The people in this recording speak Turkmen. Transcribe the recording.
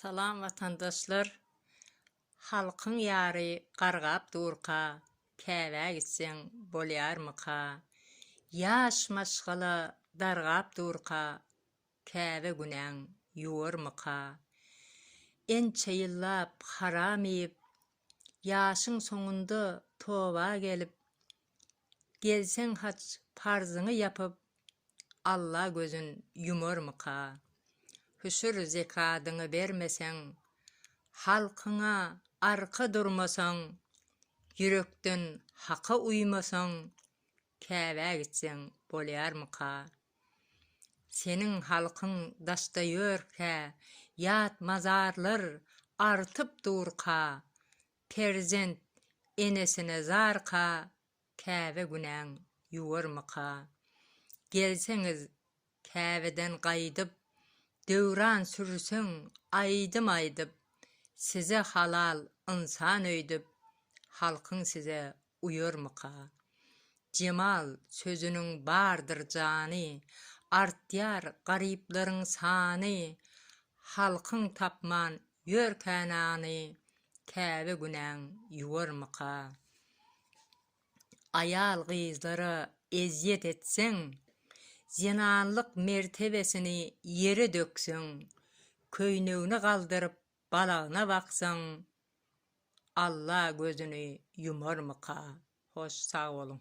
Salam watandaşlar! Halkyň ýary gargap durka, Käbä gitseň bolýarmyka? Ýaş maşgala dargap durka, Käbä günäň ýuwarmyka? Ençe ýyllap haram iýip, Ýaşyň soňunda toba gelip, Gelseň haç parzyňy ýapyp, Alla gözün ýumarmyka? Hüşür zekadyňy bermeseň, Halkyňa arka durmasaň, Ýürekden Haka uýmasaň, Käbä gitseň bolýarmyka? Seniň halkyň daşda ýörkä, Ýat mazarlar artyp durka, Perzent enesine zarka, Käbe günäň ýuwarmyka? Gelseňiz Käbeden gaýdyp, Döwran sürseň aýdym aýdyp, Size halal ynsan öýdüp, Halkyň size uýarmyka? Jemal sözüniň bardyr jany, Artýar garyplaryň sany, Halkyň tapman ýörkä nany, Käbä günäň ýuwarmyka? Aýal-gyzlara ezýet etseň, Zenanlyk mertebesini ýere dökseň, Köýnegini galdyryp Balagyna baksaň Alla gözüni ýumarmyka. Hoş sag boluň.